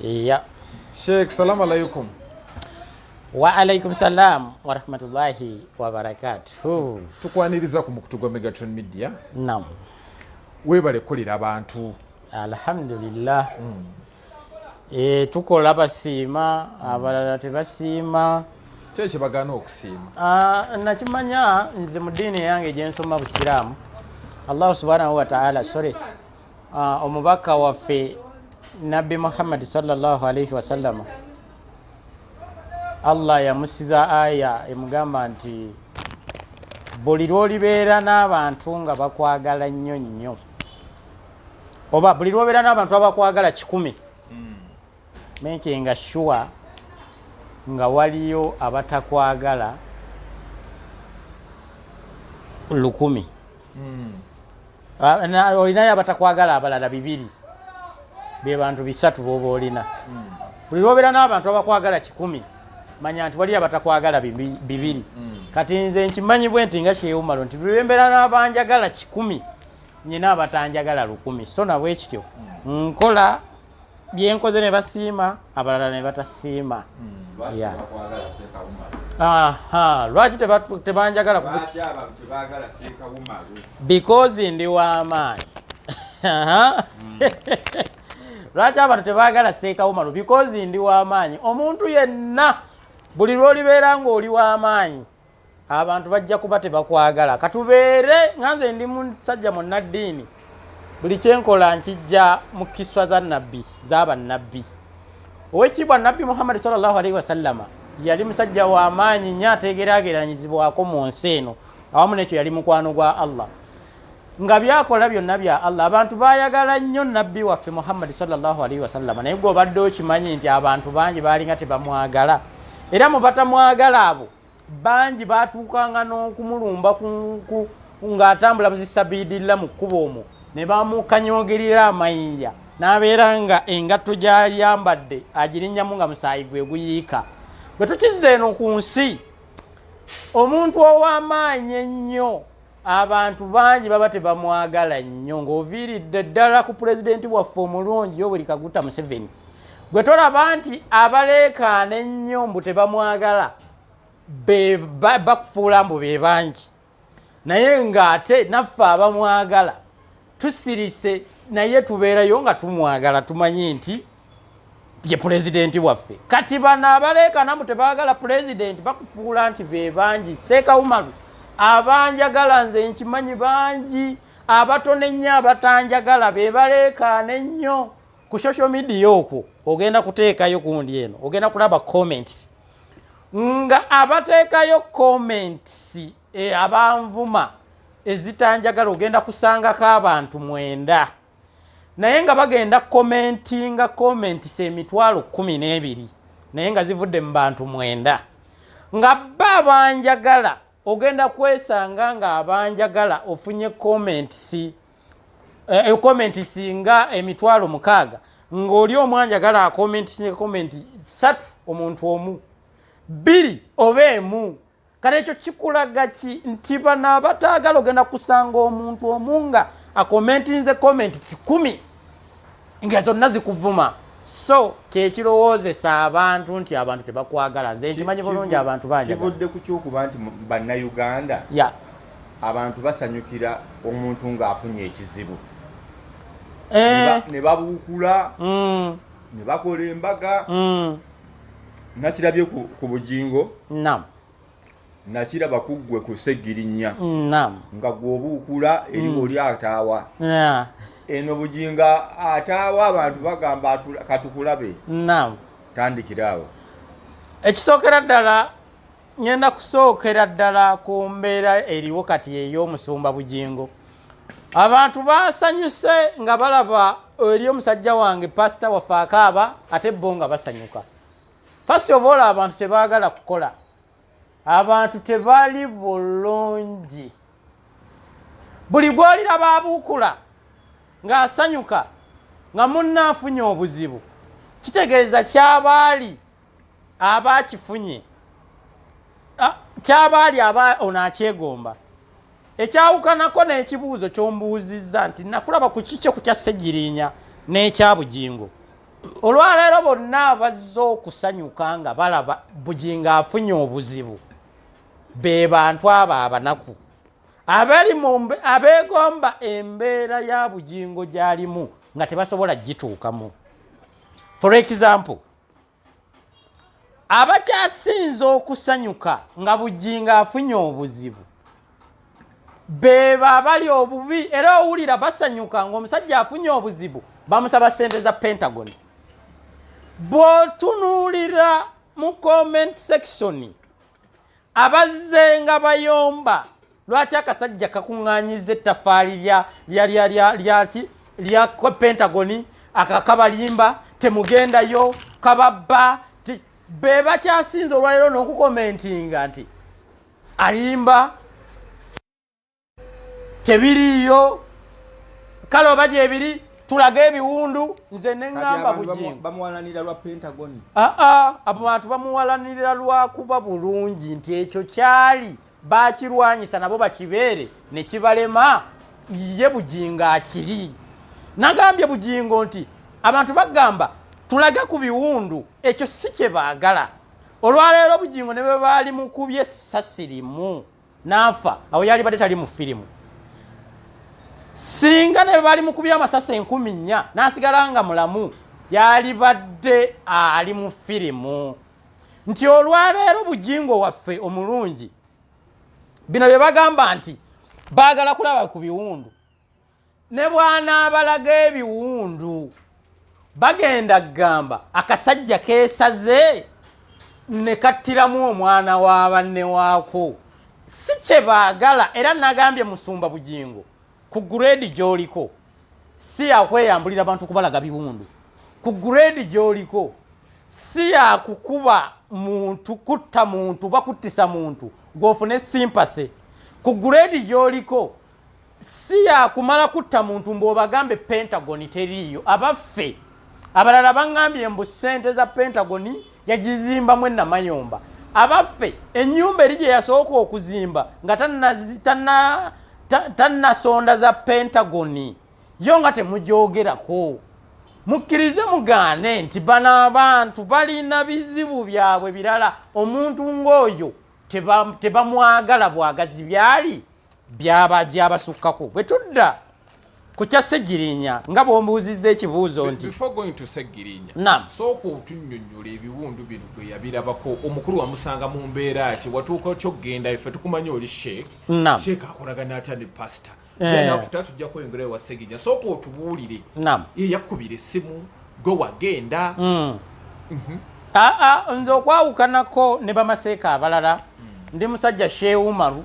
iya sheikh salamu alaikum wa alaikum salam warahmatullahi wabarakatuh tukwaniriza ku mukutu gwa megatron media nam webale kukolera abantu alhamdulillah mm. Eh, tukola basiima abalala tebasiima kyekyo bagana okusiima ah, nakimanya nze mu diini eyange gyensoma busiraamu allahu subhanahu wataala sore ah, omubaka waffe nabbi muhammadi salllahu alaihi wasallama allah yamusiza aya emugamba nti buli lwolibeera n'abantu nga bakwagala nnyo nnyo oba buli lwobeera n'abantu abakwagala kikumi hmm. mekinga sure nga waliyo abatakwagala lukumi hmm. ah, olinayo abatakwagala abalala bibiri bebantu bisatu boba olina hmm. buli lwobeera n'abantu abakwagala kikumi manya nti waliyo abatakwagala bibiri kati nze nkimanyibwe nti nga kyewumalo nti buli lwembeera n'abanjagala kikumi nyina abatanjagala lukumi so nabwe kityo nkola byenkoze ne basiima abalala ne batasiima lwaki tebanjagala because ndi wamaanyi lwaki abantu tebagala seekawumalu because ndi wamaanyi omuntu yenna buli lwolibeera ngaoli wamaanyi abantu bajja kuba tebakwagala katubeere nga nze ndi musajja munnaddiini buli kyenkola nkijja mu kiswa za nabbi zabannabbi owekitiibwa nabbi muhammadi salllahu alaihi wasallama yali musajja wamaanyi nyo ategeraageranyizibwako mu nsi eno awamu nekyo yali mukwano gwa allah nga byakola byonna bya allah abantu bayagala nnyo nabbi waffe muhammadi salllahu alaihi wasallama naye gwe obadde okimanyi nti abantu bangi baalinga tebamwagala era mubatamwagala abo bangi baatuukanga n'okumulumba ng'atambula mu zisabiidilla mu kkuba omwo ne bamukanyogerera amayinja n'abeera nga engatto gy'ayambadde agirinnyamu nga musaayi gwe guyiika bwe tukizza eno ku nsi omuntu ow'amaanyi ennyo abantu bangi baba tebamwagala nnyo ng'oviiridde ddala ku pulezidenti waffe omulungi yoweri kaguta museveni gwe tolaba nti abaleekaana ennyo mbu tebamwagala bakufuula mbu be bangi naye ng'ate naffe abamwagala tusirise naye tubeerayo nga tumwagala tumanyi nti ye pulezidenti waffe kati bano abaleekanamu tebagala pulezidenti bakufuula nti be bangi seekawumalu abanjagala nze nkimanyi bangi abatono ennyo abatanjagala be baleekaana ennyo ku social media okwo ogenda kuteekayo kundi eno ogenda kulaba comments nga abateekayo comments e, abanvuma ezitanjagala ogenda kusangako abantu mwenda naye nga bagenda komentinga komentisa emitwalo kumi n'ebiri naye nga zivudde mu bantu mwenda nga ba abanjagala ogenda kwesanga nga abanjagala ofunye komentisi eh, eh, komentisi nga emitwalo mukaaga ng'oli omwanjagala akomentisi ne komenti satu omuntu omu bbiri oba emu kale ekyo kikulaga ki nti bano abataagala ogenda kusanga omuntu omu nga akomentinze komenti kikumi nga zonna zikuvuma so kyekirowoozesa abantu nti abantu tebakwagala nze nkimanyi bulungi abantu bankivudde ku kyokuba nti bannayuganda ya abantu basanyukira omuntu ng'afunye ekizibu eh. ne babuukula mm. ne bakola embaga mm. nakirabye ku, ku bugingo nam nakiraba ku ggwe ku ssegirinya nam nga gwobuukula eri mm. oli ataawa yeah. eno bugingo ataawa abantu bagamba katukulabe nam tandikira awo ekisookera ddala ngenda kusookera ddala ku mbeera eriwo kati ey'omusumba bugingo abantu basanyuse nga balaba eri omusajja wange pasita waffe akaaba ate bo nga basanyuka first of all abantu tebagala kukola abantu tebali bulungi buli gwolira babuukula ng'asanyuka nga munna afunye obuzibu kitegeeza kyabaali aba akifunye kyaba ali aba ono akyegomba ekyawukanako n'ekibuuzo kyombuuzizza nti nakulaba ku kikyo kutya ssegirinya n'ekya bugingo olwaleero bonna abazze okusanyuka nga balaba bugingo afunye obuzibu be bantu abo abanaku abali abeegomba embeera ya bugingo gy'alimu nga tebasobola gituukamu for example abakyasinze okusanyuka nga bujjinga afunye obuzibu bebo abali obubi era owulira basanyuka ngaomusajja afunye obuzibu bamusaba sente za pentagon bwotunuulira mu comment section abazze nga bayomba lwaki akasajja kakuŋŋanyiza ettafaali lyaki lya pentagoni akakabalimba temugendayo kababba be bakyasinza olwaleero n'okukomentinga nti alimba tebiriiyo kale oba gyebiri tulage ebiwundu nze neŋamba bujibamuwalanira lwa pentagon aa abo bantu bamuwalanira lwakuba bulungi nti ekyo kyali bakirwanyisa nabo bakibeere nekibalema ye bujingo akiri nagambye bujingo nti abantu bagamba tulage ku biwundu ekyo si kyebaagala olwaleero bujingo ne bwe baali mukubye essasi limu n'afa awo yalibadde tali mu firimu singa ne bali mu kubya amasasi enkumi nnya n'asigala nga mulamu yalibadde ali mu firimu nti olwaleero bujingo waffe omulungi bino bye bagamba nti baagala kulaba ku biwundu ne bw'anaabalaga ebiwundu bagenda kugamba akasajja keesaze ne kattiramu omwana wa banne waako si kye baagala era nagambye musumba bugingo ku gureedi gy'oliko si yakweyambulira bantu kubalaga biwundu ku gureedi gy'oliko si yakukuba muntu kutta muntu bakuttisa muntu gw'ofune simpase ku gureedi gy'oliko si yakumala kutta muntu mbu obagambe pentagoni teriiyo abaffe abalala baŋambye mbu ssente za pentagoni yagizimbamu enamayomba abaffe enyumba eri gye yasooka okuzimba nga tannasonda za pentagoni yo nga temugyogerako mukkirize mugaane nti bano abantu balina bizibu byabwe birala omuntu ng'oyo tebamwagala bwagazi byali byaba byabasukkako bwe tudda ku kya segirinya nga bwombuuzizza ekibuuzo nti sooka otunyonyola ebiwundu bino bwe yabirabako omukulu wamusanga mu mbeera ki watuuka kyokugenda efe tukumanyi oli sheek sheek akolagana atya ne pasita then after tujja kweyongera ewa segija sooka otubuulire yeyakkubira essimu gwe wagenda hmm. mhm. aa ah, ah, nze okwawukanako ne bamaseeka abalala hmm. ndi musajja sheumaru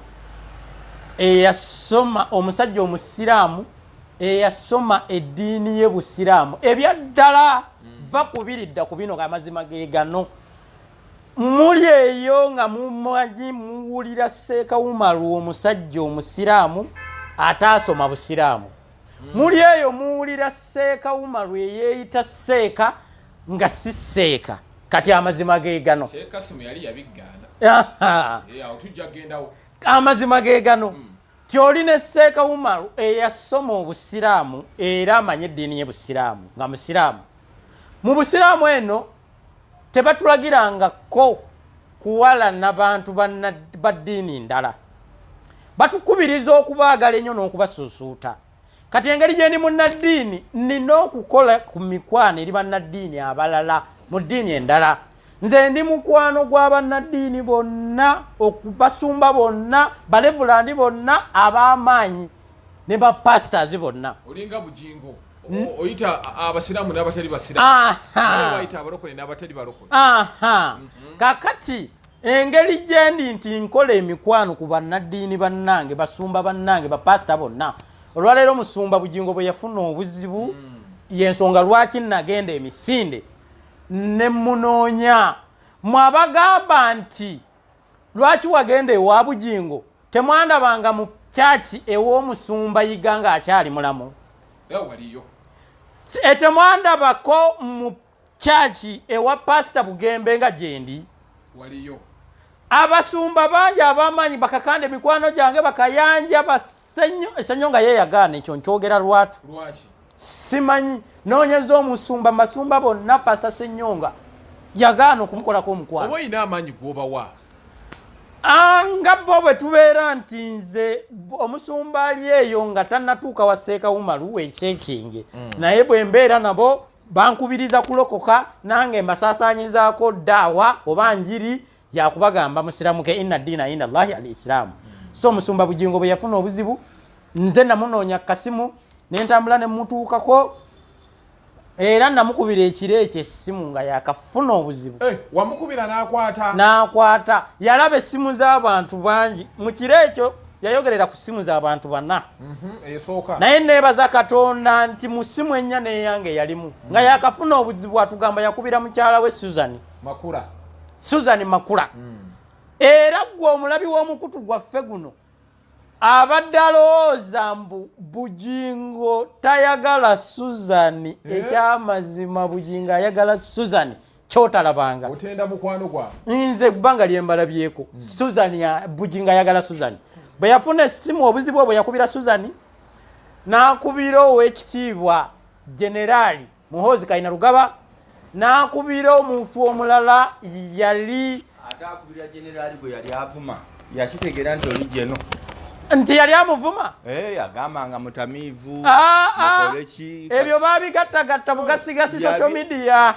eyasoma omusajja omusiraamu eyasoma eddiini ye busiraamu ebyaddala hmm. va kubiridda ku bino amazima gegano Muli eyo nga mumanyi muwulira Sseekawumalu omusajja omusiraamu ataasoma busiraamu. Hmm. Muli eyo muwulira Sseekawumalu eyeeyita Sseeka nga si Sseeka. Kati amazima ge gano. Sseekasimu yali yabiggaana. Amazima ge gano. Hmm. Tyoli ne Seeka Umaru eyasoma obusiraamu era amanye eddiini ye busiraamu nga musiraamu. Mu busiraamu eno tebatulagiranga ko kuwala na bantu ba ddiini ndala batukubiriza okubaagala ennyo n'okubasuusuuta kati engeri gyendi munnaddiini nina okukola ku mikwano eri bannaddiini abalala mu ddiini endala nze ndi mukwano gwa bannaddiini bonna okubasumba bonna balevulandi bonna ab'amaanyi ne bapasitazi bonna olinga bugingo Hmm? oyita abasiraamu n'abatali basiraamubayita abalokole n'abatali balokole mm-hmm. kakati engeri gyendi nti nkola emikwano ku bannaddiini bannange basumba bannange bapaasita bonna olwaleero musumba bugingo bwe yafuna obuzibu mm. yensonga lwaki nagenda emisinde ne munoonya mwabagamba nti lwaki wagenda ewa bujingo temwandabanga mu kyaki ew'omusumba yiga nga akyali mulamu e, temwandabako mu kyaki ewa pasita bugembe nga gyendi abasumba bangi abamanyi bakakanda emikwano gyange bakayanja basenyo esenyo nga yeyagaana ekyo nkyogera lwatu lwaki simanyi nonyeza omusumba masumba bonna pasta senyonga yagaana okumukolako omukwano oba olina amaanyi gwobawa ah, nga bo bwe tubeera nti nze omusumba ali eyo nga tannatuuka wa seeka umaru wekyekinge mm. naye bwe mbeera nabo bankubiriza kulokoka nange mbasaasaanyizaako daawa oba njiri yakubagamba musiramuke inna diina inda llahi al isilaamu so omusumba bugingo bwe yafuna obuzibu nze namunoonya kasimu nentambula nemutuukako era namukubira ekiro ekyo essimu nga yakafuna obuzibu eh, wamukubira nakwata nakwata yalaba essimu z'abantu bangi mu kiro ekyo yayogerera ku ssimu z'abantu bana mhm, naye nebaza katonda nti mu ssimu ennya neyange yalimu nga yakafuna obuzibu atugamba yakubira mukyala we suzani makula susan makula mm. era gwe omulabi w'omukutu gwaffe guno abadde alowooza mbu bugingo tayagala susan eh? ekyamazima bugingo ayagala susan kyotalabanga otenda mukwano gwa nze ebbanga lyembala byeko hmm. susan bugingo ayagala susan bwe yafuna esimu obuzibu obwe yakubira susan n'akubira ow'ekitiibwa generaali muhoozi kaina lugaba nakubira omuntu omulala yali ate akubira generali gwe yali avuma yakitegeera nti oli jeno nti yali amuvuma eh, agamba nga mutamiivu ah, ah. ebyo babigattagatta bugasigasi social media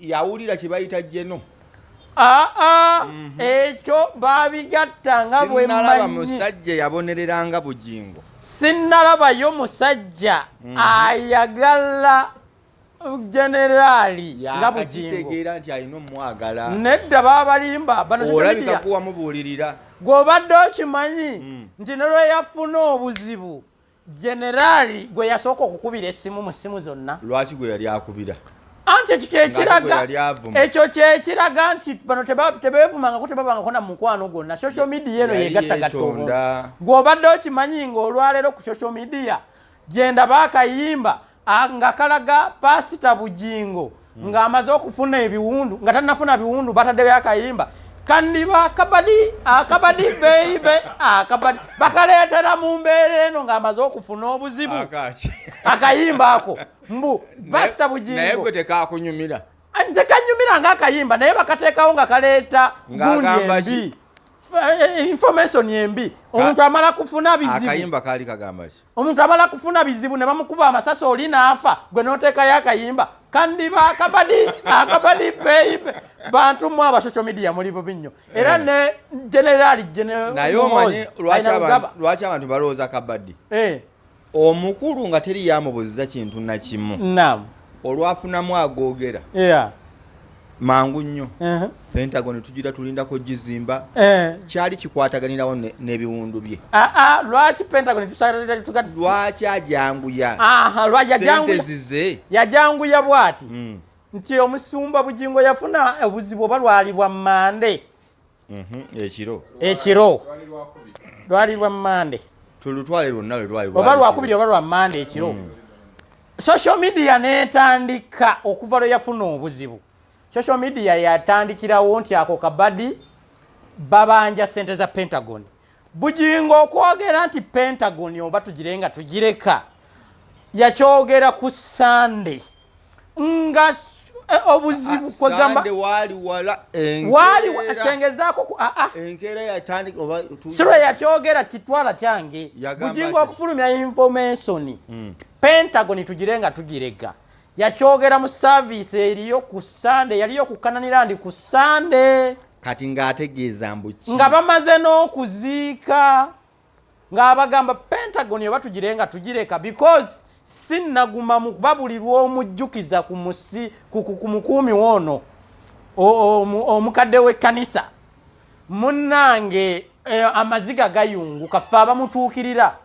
yawulira kye bayita jeno aa mhm. ekyo babigatta nga bwemmanyi musajja yabonereranga bugingo sinnalabayo musajja mhm. ayagala generaali nga bugingotegeera nti alina omwagala nedda babalimba banoolabikakuwamubuulirira gw'obadde okimanyi mm. nti nolweyafuna obuzibu generali gwe yasooka okukubira essimu mu ssimu zonna lwaki gwe yali akubira anti ekyo kyekiraga ekyo kyekiraga nti bano tebeevumangako tebabangako na mukwano gwonna social media eno yegattagatta obuntu gwobadde okimanyi nga olwaleero ku social media gyenda baakayimba Ah, nga kalaga pasita bugingo hmm. ng'amaze okufuna ebiwundu nga tanafuna biwundu bataddeyo akayimba kandiba akabadi akabadi beibe akabadi bakaleetera mu mbeera eno ng'amaze okufuna obuzibu akayimba ako mbu pasita bugingo tekakunyumira ah, tekanyumira ngaakayimba naye bakateekawo nga kaleeta gundi embi eh, eh, information embi omuntu amala kufuna bizibu akayimba kaali kagamba ki omuntu abala kufuna bizibu ne bamukuba amasasi oli naafa gwe noteekayo akayimba kandiba akabadi akabadi beibe bantu mwe aba social media muli bubi nnyo era eh. ne generali naye omanyi lwaki abantu balowooza kabadi eh. omukulu nga teri yamubuziza kintu nakimu olwafunamu agoogera mangu nnyo pentagon tugira tulindako gizimba eh. kyali kikwataganirawo n'ebiwundu bye ah, ah, lwaki pentagon lwaki ajanguya zize yajanguya bwati hmm. nti omusumba bugingo yafuna obuzibu oba lwalibwa mande Mhm, ekiro ekiro lwali lwa mande tulutwale lwonna lwelwaoba lwakubiri oba lwa mande ekiro mm. social media netandika okuva lwe yafuna obuzibu social media yatandikirawo nti ako kabadi babanja sente za pentagon bujingo okwogera nti pentagon oba tugire nga tugireka yakyogera ku sunday nga eh, obuzibu ah, kwegamba waaliwatengezaako ah, ah. sirwe yakyogera kitwala kyange bujinga okufulumya information hmm. pentagon tugire nga tugirega yakyogera mu saviisi eriyo ku sande yaliyo kukananira ndi ku sande kati ng'ategeeza mbuki nga bamaze n'okuziika ng'abagamba pentagon oba tugire nga tugireka because si naguma mu kuba buli lw'omujjukiza ku musi ku mukuumi woono omukadde w'ekkanisa munnange eh, amaziga gayunguka ffe abamutuukirira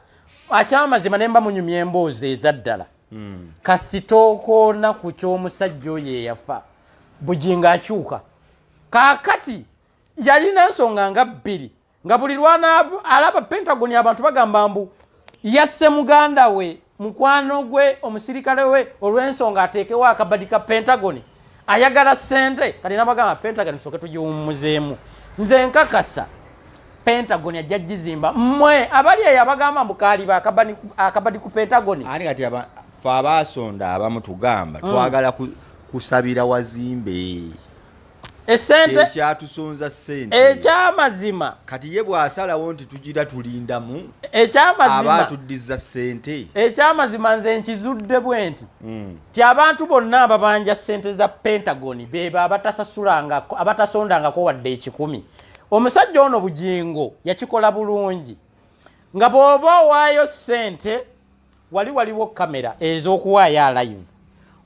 akyamazima ne mba munyumya emboozi eza ddala hmm. kasitookoona ku ky'omusajja oyo eyafa bugingo akyuka kaakati yalina nsonga nga bbiri nga buli lwanaalaba pentagon abantu bagamba mbu yasse muganda we mukwano gwe omusirikale we olw'ensonga ateekewo akabadi ka pentagon ayagala sente kati nabagamba pentagon soke tugiwummuzeemu nze nkakasa pentagon ajja gizimba mmwe abali eyo abagamba mbu kaaliba akabadi ku pentagon ani kati fe abaasonda abamu tugamba mm. twagala kusabira wazimbe esente ekyatusonza sente ekyamazima kati ye bwasalawo nti tugira tulindamu ekyamazima abatuddiza sente ekyamazima nze nkizudde bwe nti hmm. ti abantu bonna ababanja sente za pentagon bebo abatasasulanga abatasondangako wadde ekikumi omusajja ono bugingo yakikola bulungi nga bwoba owaayo sente wali waliwo kamera ez'okuwaayo alive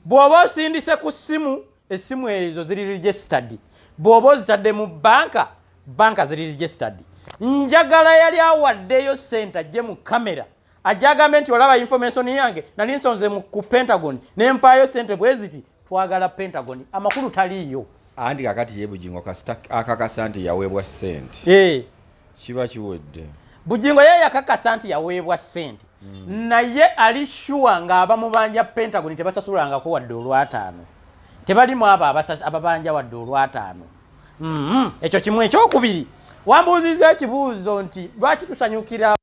bwoba osindise ku simu essimu ezo ziri registered bw'oba ozitadde mu banka banka ziri registered njagala yali awaddeyo sente ajje mu kamera ajagambe nti olaba information yange nali nsonze ku pentagon ne mpaayo sente bwe ziti twagala pentagon amakulu taliiyo andi kakati yebugingo akakasa nti yaweebwa sente eh. kiba kiwedde bugingo ye yakakasa nti yaweebwa sente hmm. naye ali shuwa ng'aba mubanja pentagon tebasasulangako wadde olwataano tebalimu abo ababanja wadde olwataano mm-hmm. ekyo kimu ekyokubiri wambuuziza ekibuuzo nti lwaki tusanyukira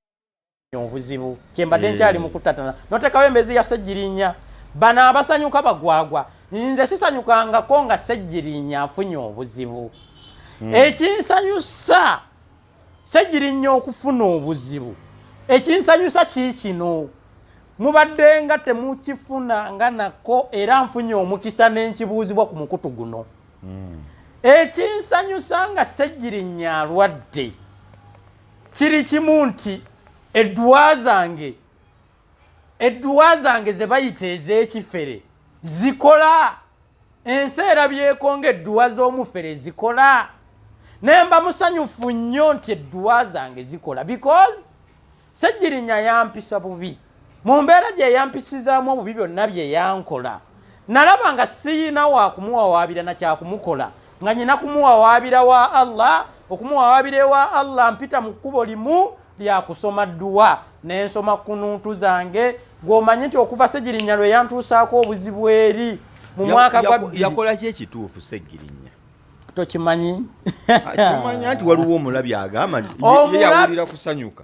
obuzibu kyembadde eh. nkyali mukutatana notekawo embezi ya segirinya bano abasanyuka bagwagwa nze sisanyukangako nga segirinya afunye obuzibu hmm. ekinsanyusa segirinya okufuna obuzibu ekinsanyusa kiikino mubadde nga temukifuna nga nako era nfunye omukisa nenkibuuzibwa ku mukutu guno hmm. ekinsanyusa nga segirinya alwadde kiri kimu nti edduwa zange edduwa zange ze bayita ez'ekifere zikola ensi erabyeko ng'edduwa z'omufere zikola naye mba musanyufu nnyo nti edduwa zange zikola because sejjirinya yampisa bubi mu mbeera gye yampisizaamu obubi byonna bye yankola nalaba nga siyina wakumuwawaabira nakyakumukola nga nyina kumuwawaabira wa allah okumuwawaabira ewa allah mpita mu kkubo limu lyakusoma dduwa nensoma kununtu zange gwomanyi nti okuva segirinya lwe yantuusaako obuzibu eri mu mwaka gwa yakolaki ekituufu segirinya tokimanyi kimanya nti waliwo omulabi agamba yawulira kusanyuka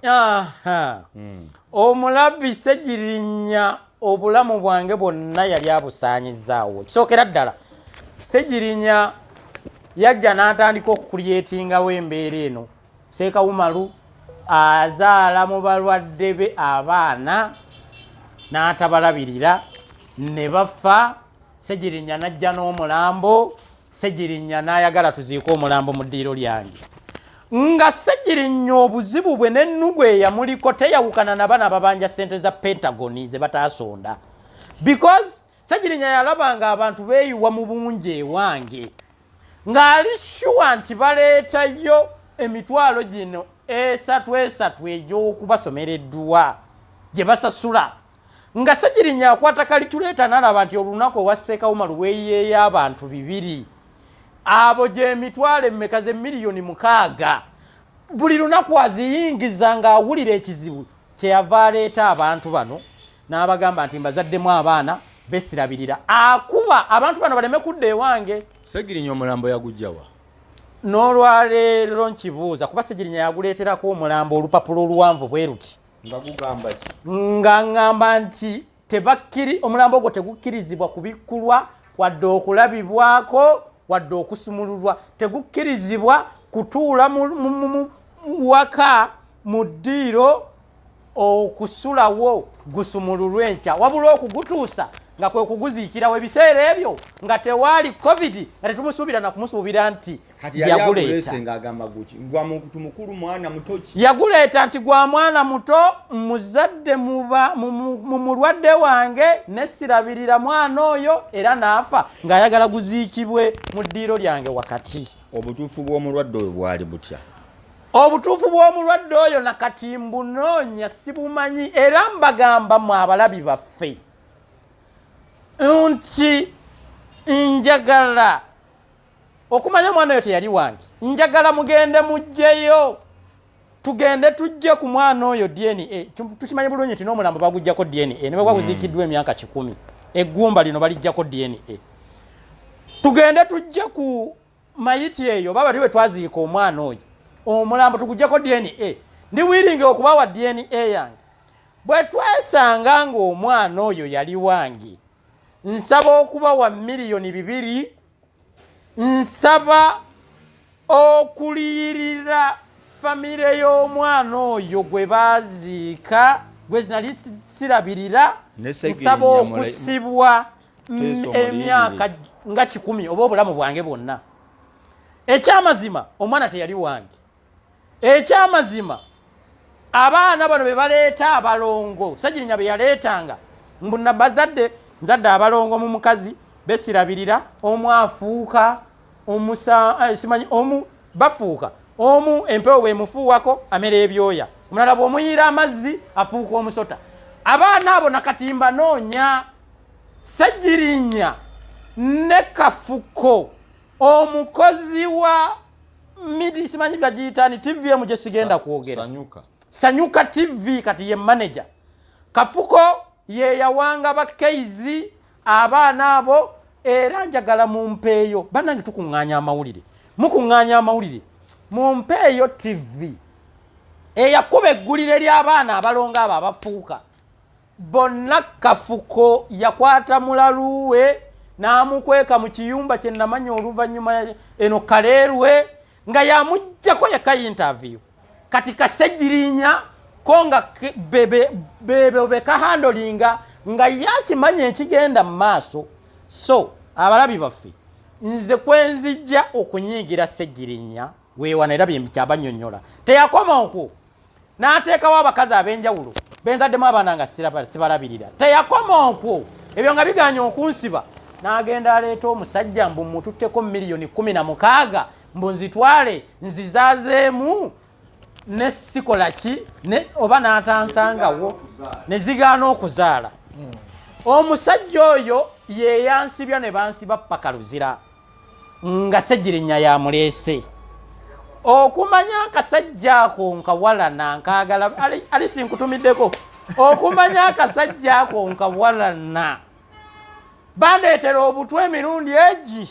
hmm. omulabi segirinya obulamu bwange bwonna yali abusaanyizaawo kisookera ddala segirinya yajja n'atandika okukulyetingawo embeera eno seekawumalu azaala mu balwadde be abaana n'atabalabirira ne bafa segirinya n'ajja n'omulambo segirinya nayagala tuziika omulambo mu ddiiro lyange nga segirinya obuzibu bwe nennugu eyamuliko teyawukana na bana babanja sente za pentagoni ze bataasonda because segirinya yalaba nga abantu beeyiwa mu bungi ewange ng'ali shuwa nti baleetayo emitwalo gino esatu esatu egy'okubasomera edduwa gye basasula nga segirinya akwata kalituleeta nalaba nti olunaku owasseekawo maluweeyeeyo abantu bibiri abo gyemitwalo emmeka ze miliyoni mukaaga buli lunaku aziyingiza ng'awulira ekizibu kyeyava aleeta abantu bano n'abagamba nti mbazaddemu abaana besirabirira akuba abantu bano baleme kudda ewange segirinya omulambo yagujjawa n'olwaleero nkibuuza kuba segirinya yaguleeterako omulambo olupapula oluwanvu bwe luti nga ŋŋamba nti tebakkiri omulambo ogwo tegukkirizibwa kubikkulwa wadde okulabibwako wadde okusumululwa tegukkirizibwa kutuula waka mu ddiiro okusulawo gusumululwa enkya wabula okugutuusa nga kwe kuguziikirawo ebiseera ebyo nga tewaali covid nga tetumusuubira nakumusuubira nti yaguleeta nti gwa mwana muto muzadde mumulwadde wange nesirabirira mwana oyo era naafa ng'ayagala guziikibwe mu ddiiro lyange wakati obutuufu bw'omulwadde oyo bwali butya obutuufu bw'omulwadde oyo nakati mbunoonya sibumanyi era mbagamba mu abalabi baffe nti njagala okumanya omwana oyo teyali wange njagala mugende mujjeyo tugende tujje ku mwana oyo dna eh, tukimanyi bulungi nti n'omulambo bagujjako dna ne bwe gwaguziikiddwa hmm. emyaka kikumi eggumba lino balijjako dna tugende tujje ku mayiti eyo baba liwe twaziika omwana oyo omulambo tugujjako dna ndi wiringi okubawa dna yange bwe twesanga ng'omwana oyo yali wange nsaba okubawa miliyoni bibiri nsaba okuliyirira famire y'omwana oyo gwe baaziika gwe nali sirabirira nsaba okusibwa emyaka nga kikumi oba obulamu bwange bwonna ekyamazima omwana teyali wange ekyamazima abaana bano bebaleeta abalongo sagirinya beyaleetanga mbu nabazadde nzadde abalongo mu mukazi besirabirira omu afuuka eh, simanyi omu bafuuka omu empewo bwemufuuwako amera ebyoya omulala bwomuyiira amazzi afuuka omusota abaana abo nakati mbanoonya sagirinya ne kafuko omukozi wa midi simanyi gagiyitani tv emu gye sigenda kwogera sanyuka tv kati ye manaja kafuko yeyawanga bakeizi abaana abo era njagala mumpeeyo banange tukuŋŋaanya amawulire mukuŋŋaanya amawulire mumpeeyo tv eyakuba eggulire ly'abaana abalongo abo abafuuka bonna kafuko yakwata mulalu we n'amukweka mu kiyumba kye namanya oluvannyuma eno kaleerwe nga yamuggyako yeka yintaviyu kati kasegirinya ko nga bebo bekahandolinga nga yakimanya ekigenda mu maaso so abalabi baffe nze kwenzijja okunyiigira segirinya weewana era byekyabanyonyola teyakoma okwo n'ateekawo abakazi ab'enjawulo benzaddemu abaana nga sibalabirira teyakoma okwo ebyo nga biganye okunsiba n'agenda aleeta omusajja mbu mututteko miliyoni kumi na mukaaga mbu nzitwale nzizazeemu ne sikola ki oba n'atansangawo ne zigaana okuzaala hmm. omusajja oyo yeyansibya ne bansiba paka luzira nga segirinya yamuleese okumanya akasajja ako nkawalana nkagala alisi nkutumiddeko okumanya akasajja ako nkawalana bandeetera obutwa emirundi egi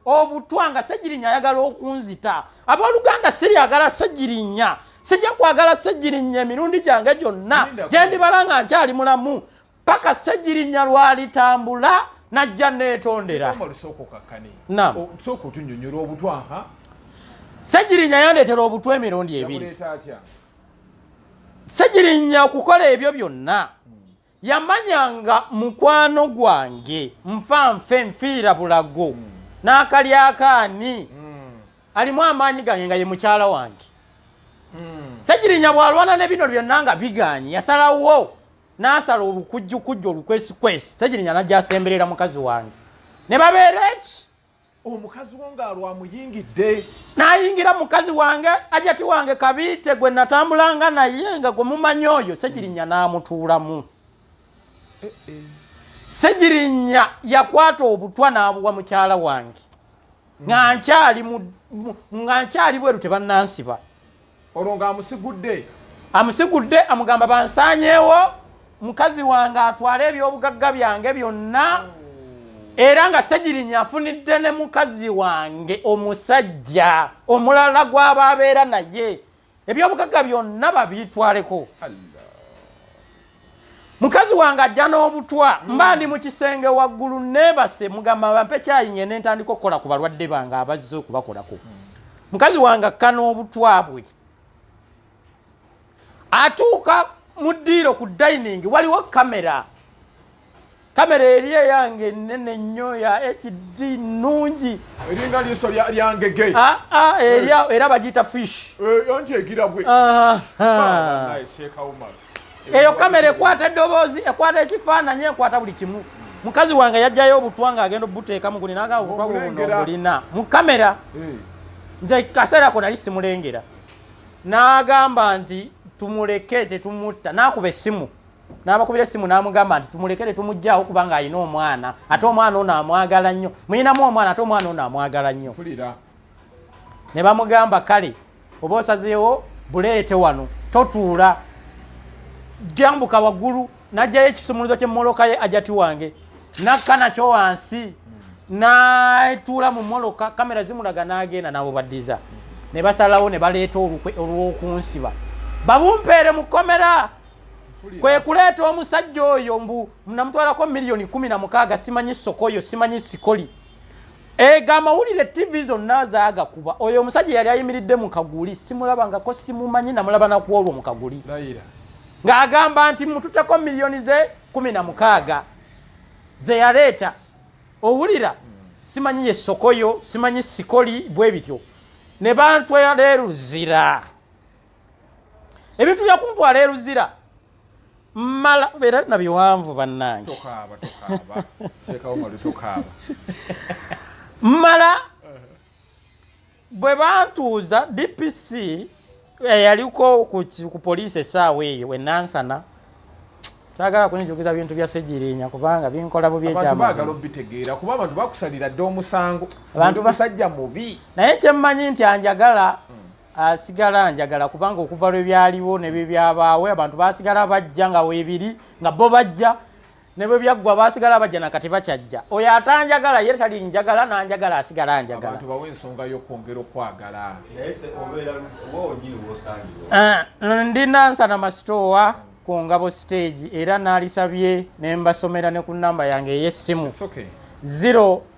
obutwa nga segirinya ayagala okunzita abooluganda siryagala segirinya sijja kwagala segirinya emirundi gyange gyonna gyendibalanga nkyali mulamu paka ssegirinya lwalitambula najja neetondera ssegirinya yandeetera obutwa emirundi ebiri ssegirinya okukola ebyo byonna yamanyanga mukwano gwange nfa nfe nfiira bulago hmm. n'akalyakaani hmm. alimu amaanyi gange nga ye mukyala wange hmm. ssegirinya bwalwana ne bino byonna nga bigaanyi yasalawo n'asala olukujjukujju olukwesikwesi segirinya najja asemberera mukazi wange ne babeera eki omukazi wo ng'alwa amuyingidde n'ayingira mukazi wange ajati wange kabiite gwe natambulanga naye nga gwe mumanyi oyo segirinya n'amutuulamu eh, eh. segirinya yakwata obutwa n'abuwa mukyala wange nga nkyali bweru tebannansiba olwo ng'amusigudde amusigudde amugamba bansanyeewo mukazi wange atwale ebyobugagga byange byonna era nga segirinya afunidde ne mukazi wange omusajja omulala gw'aba abeera naye ebyobugagga byonna babitwaleko mukazi wange ajja n'obutwa hmm. mba ndi mu kisenge waggulu neebase mugamba bampe kyayinye ne ntandika okukola ku balwadde bange abazze okubakolako hmm. mukazi wange akka n'obutwa bwe atuuka mu ddiiro ku dining waliwo kamera Kamera eri eyange nene nnyo ya HD nungi. Eringa liiso lya lya ngege. Ah ah eri eh. era bagiyita fish. Eh yonti egira bwe. Ah ah. Naye Sheikh Umar. Eyo kamera ekwata eddoboozi, ekwata ekifaananyi, ekwata buli kimu. Mukazi wange yajjayo obutwa nga agenda obuteeka mu gulina nga obutwa buno bulina. Mu kamera. Eh. Nze kaseera ko nali simulengera. N'agamba nti tumuleke tetumutta. N'akuba essimu. n'abakubira essimu n'amugamba nti tumulekere tumugyawo kubanga alina omwana ate omwana ono amwagala nnyo muyinamu omwana ate omwana ono amwagala nnyo ne bamugamba kale oba osazeewo buleete wano totuula jambuka waggulu najjayo ekisumuluzo kyemoloka ye ajati wange nakka nakyo wansi natuula mu moloka kamera zimulaga nagenda nabo baddiza ne basalawo ne baleeta olukwe olw'okunsiba babumpeere mu kkomera kwe kuleeta omusajja oyo mbu namutwalako miliyoni kumi na mukaaga simanyi sokoyo simanyi sikoli ego amawulire tv zonna zagakuba oyo omusajja yali ayimiridde mu kaguli simulabangako simumanyi namulaba nakuolwo mu kaguli ng'agamba nti mututeko miliyoni ze kumi na mukaaga ze yaleeta owulira simanyi ye sokoyo simanyi sikoli bwe bityo ne bantwera eruzira ebintu byakuntwala eruzira mala era na biwanvu bannange mala bwe bantuuza dpc eyaliko eh, ku poliisi esaawa eyo wenansana sagala kunjogeza bintu bya segirinya kubanga binkola bubi ekyamagala obitegeera kuba abantu bakusalira dde omusango abantu basajja mubi naye kyemmanyi nti anjagala hmm. Ah, sigala njagala kubanga okuva lwe byaliwo ne bye byabaawo abantu basigala bajja nga weebiri nga bo bajja ne bwe byaggwa basigala bajja na kati bakyajja oyo atanjagala ye tali njagala nanjagala asigala njagala ah, ndina nsana masitoowa ku ngabo siteegi era naalisabye ne mbasomera ne ku namba yange ey'essimu 0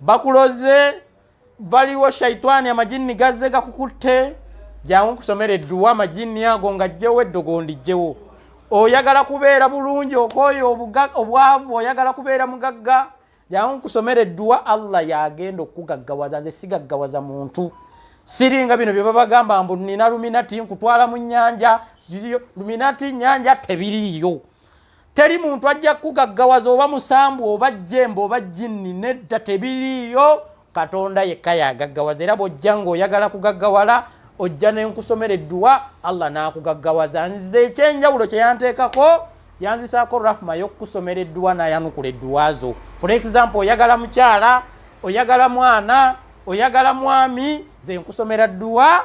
bakuloze baliwo shaitani amajinni gazze gakukutte jangu nkusomera edduwa amajinni ago nga jjewo eddogo ndijjewo oyagala kubeera bulungi okoyo obwavu oyagala kubeera mugagga jangu nkusomera edduwa allah yagenda okukugaggawaza nze sigaggawaza muntu siringa bino byebabagamba mbu nina luminati nkutwala mu nyanja luminati nyanja tebiriyo teri muntu ajja kukugaggawaza oba musambu oba jjemba oba jjinni nedda tebiriiyo katonda yekka yagaggawaza era bwojja ngaoyagala kugaggawala ojja nenkusomera edduwa allah nakugaggawaza nze ekyenjawulo kyeyanteekako yanzisaako rahma yokukusomera edduwa nayanukula edduwazo for example oyagala mukyala oyagala mwana oyagala mwami nze nkusomera dduwa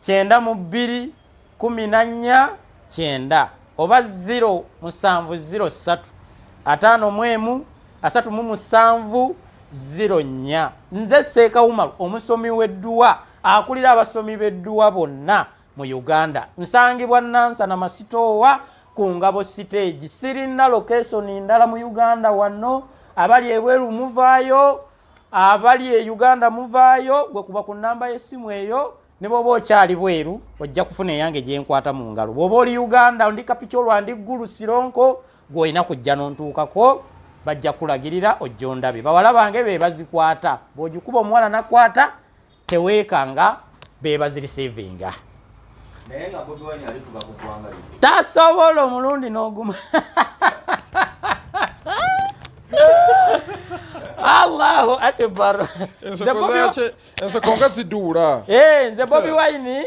kyenda mu bbiri kumi na nnya kyenda oba ziro musanvu ziro ssatu ataano mu emu asatu mu musanvu ziro nnya nze seeka umaru omusomi w'edduwa akulira abasomi b'edduwa bonna mu uganda nsangibwa nansana masitoowa ku ngabo siteegi sirina lokesoni ndala mu uganda wano abali ebweru muvaayo abali e uganda muvaayo gwe kuba ku namba y'essimu eyo ne bwoba okyali bweru ojja kufuna eyange gyenkwata mu ngalo bwoba oli uganda ndi kapicolwa ndi ggulu sironko gwolina kujja nontuukako bajja kulagirira ojja ondabe bawala bange be bazikwata bwogikuba omuwala nakwata teweekanga bebazirisivinga tasobola omulundi n'oguma allahu akbar enseko nga ziduula eh, nze bobi wine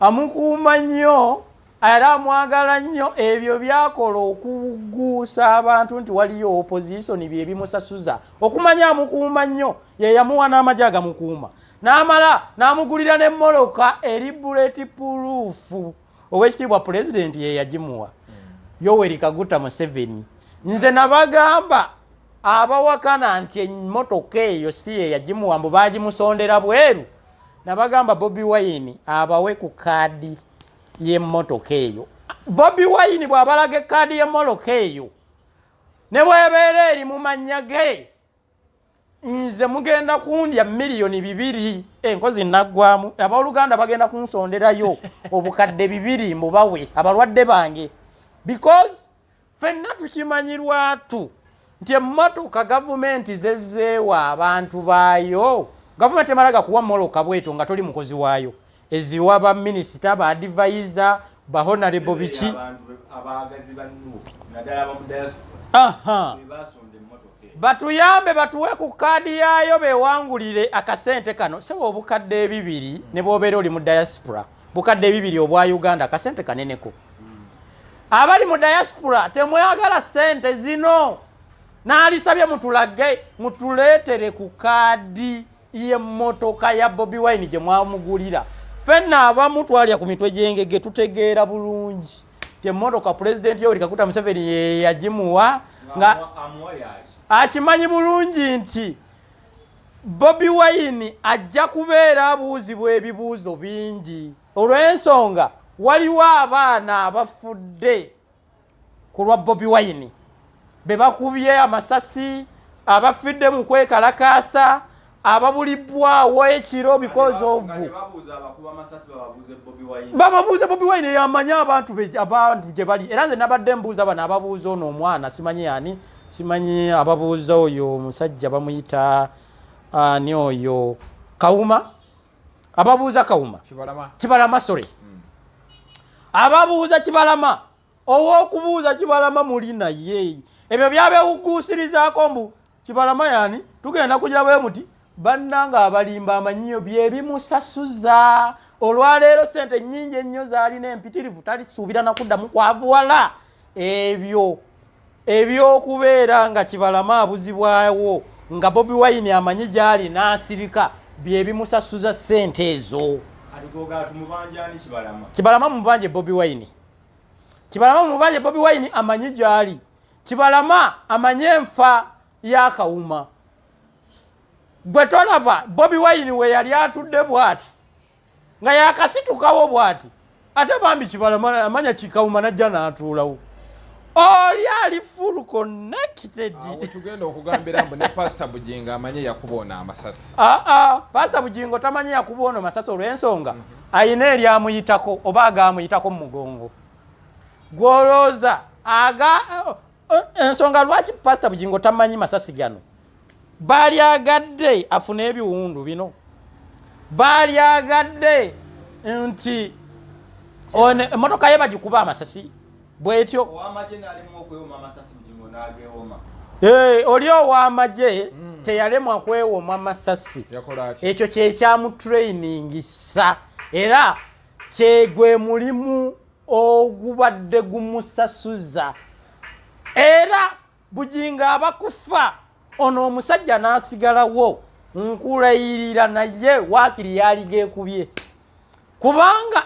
amukuuma nnyo era amwagala nnyo ebyo byakola okuguusa abantu nti waliyo opozisoni bye bimusasuza okumanya amukuuma nnyo ye yamuwa n'amagi agamukuuma n'amala n'amugulira n'emmoloka eri buleti puluufu ow'ekitiibwa pulezidenti ye yagimuwa yoweri kaguta museveni nze nabagamba abawakana nti emmotoka eyo si ye yagimuwa mbu baagimusondera bweru nabagamba bobi wayini abawe ku kaadi y'emmotoka eyo bobi wayini bw'abalaga ekkaadi y'emmoloka eyo ne bwebeera eri mu mannya ge nze mugenda kundya miliyoni bibiri enkozi eh, naggwamu abooluganda bagenda kunsonderayo obukadde bibiri mubawe abalwadde bange because Fenna tukimanyi lwatu nti emmotoka gavumenti zezzeewa abantu baayo gavumenti emala gakuwa moloka bweto nga toli mukozi waayo eziwa baminisita baadivayiza bahonarebo biki batuyambe batuwe ku kaadi yaayo bewangulire akasente kano sebo obukadde ebibiri ne bwobeera oli mu diaspora bukadde ebibiri obwa uganda kasente kaneneko abali mu diaspora temwagala sente zino naalisabye mutulage mutuleetere ku kaadi y'emmotoka ya bobi wine gye mwamugulira fenna abamu twalya ku mitwe gyengege tutegeera bulungi temmotoka pulezidenti yoweri kakuta museveni yeyagimuwa nga akimanyi bulungi nti Bobi Wine ajja kubeera abuuzibwa ebibuuzo bingi olw'ensonga waliwo abaana abafudde ku lwa Bobi Wine be bakubye amasasi abafidde mu kwekalakaasa ababulibbwawo ekiro because of bababuuze bobi wine yamanya abantu abantu gye bali era nze nabadde mbuuza bano ababuuza ono omwana simanyi yani Simanyi ababuuza oyo musajja bamuyita ani oyo kawuma ababuuza kawuma kibalama sorry hmm. ababuuza kibalama owokubuuza kibalama muli naye ebyo byabewuguusirizaako mbu kibalama yani tugenda kugira bwe muti bannanga abalimba amanyiyo byebimusasuza olwaleero sente nyingi ennyo zaalina empitirivu talisuubira nakuddamu kwavuwala ebyo ebyokubeera nga kibalama abuzibwawo nga bobi wine amanyi gyali n'asirika byebimusasuza ssente ezo kibalama mubanje bobi wine kibalama mubanje bobi wine amanyi gyali kibalama amanyi enfa yakawuma gwe tolaba bobi wine weyali atudde bwati nga yakasitukawo bwati ate bambi kibala amanya kikawuma najja natuulawo oli ali full connected tugenda okugambira mbu ne pastor bujingo amanye yakuba ono amasasi aa ah, ah, pastor bujingo tamanye yakuba ono masasi olw'ensonga mhm. ayina eryamuyitako oba agaamuyitako mu mugongo gwolooza aga Eh, ensonga lwaki pasita bugingo tamanyi masasi gano baalyagadde afune ebiwundu bino baalyagadde nti emotoka ye bagikuba amasasi bwetyo eh, oli owamagye hmm. teyalemwa kwewoma masasi ekyo kyekyamutrainingisa era kyegwe mulimu ogubadde gumusasuza era bugingo abakufa ono omusajja n'asigalawo nkulayirira naye waakiri yaaliga ekubye kubanga